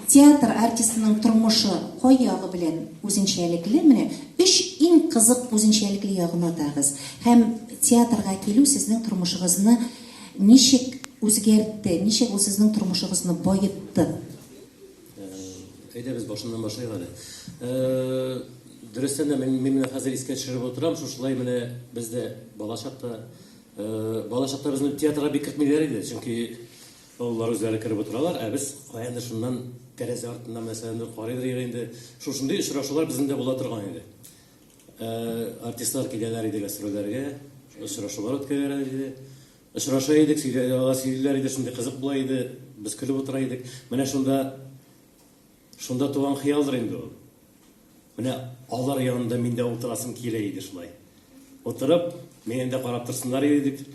Театр артистының тормышы кай ягы белән үзенчәлекле? Менә өч иң кызык үзенчәлекле ягын атагыз. Һәм театрга килү сезнең тормышыгызны ничек үзгәртте, ничек ул сезнең тормышыгызны баетты? Әйдәгез, башыннан башлыйк әле. Дөрестән дә, мин менә хәзер искә төшереп утырам, шушылай менә без дә балачакта, балачакта безне театрга бик кертмиләр иде, чөнки, Балалар үзләре кереп утыралар, ә без каядыр шуннан тәрәзә артыннан мәсәләндер карыйдыр иде инде. Шушындый очрашулар безнең дә була торган иде. Артистлар киләләр иде гастрольләргә, очрашулар үткәрәләр иде. Очраша идек, сөйләләр иде, шундый кызык була иде, без көлеп утыра идек. Менә шунда Шунда туган хыялдыр инде ул. Менә алар янында мин дә утырасым килә иде шулай. Утырып, мине дә карап торсыннар иде дип,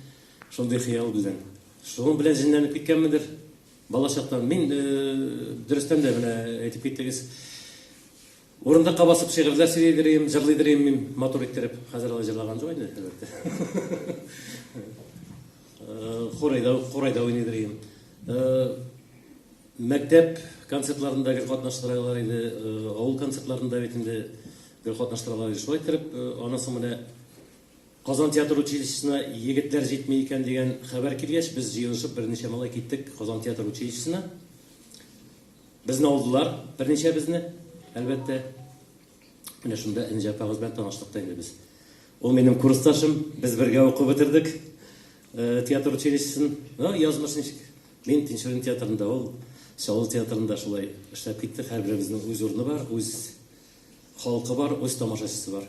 шундый хыял белән. Шуның белән җенләнеп киткәнмендер. Балачактан мин э, дөрестән дә менә әйтеп киттегез. Урындыкка басып шигырьләр сөйлидер идем, җырлыйдыр идем мин матур иттереп. Хәзер алай җырлаган юк инде, әлбәттә. Э, Хурайда, хурайда уйныйдыр идем. Э, Мәктәп концертларында гел катнаштыралар иде, авыл концертларында бит инде гел катнаштыралар иде. Шулай иттереп, аннан соң менә Казан театр училищесына егетләр җитми икән дигән хәбәр килгәч, без җыенышып берничә малай киттек Казан театр училищесына. Безне алдылар, берничәбезне, әлбәттә. Менә шунда Энҗе апагыз белән таныштык та инде без. Ул минем курсташым, без бергә укып бетердек. Э, театр училищесын ну, язмыш ничек мин тинчурин театрында ул сәул театрында шулай эшләп киттек һәрберебезнең үз урыны бар үз халкы бар үз тамашачысы бар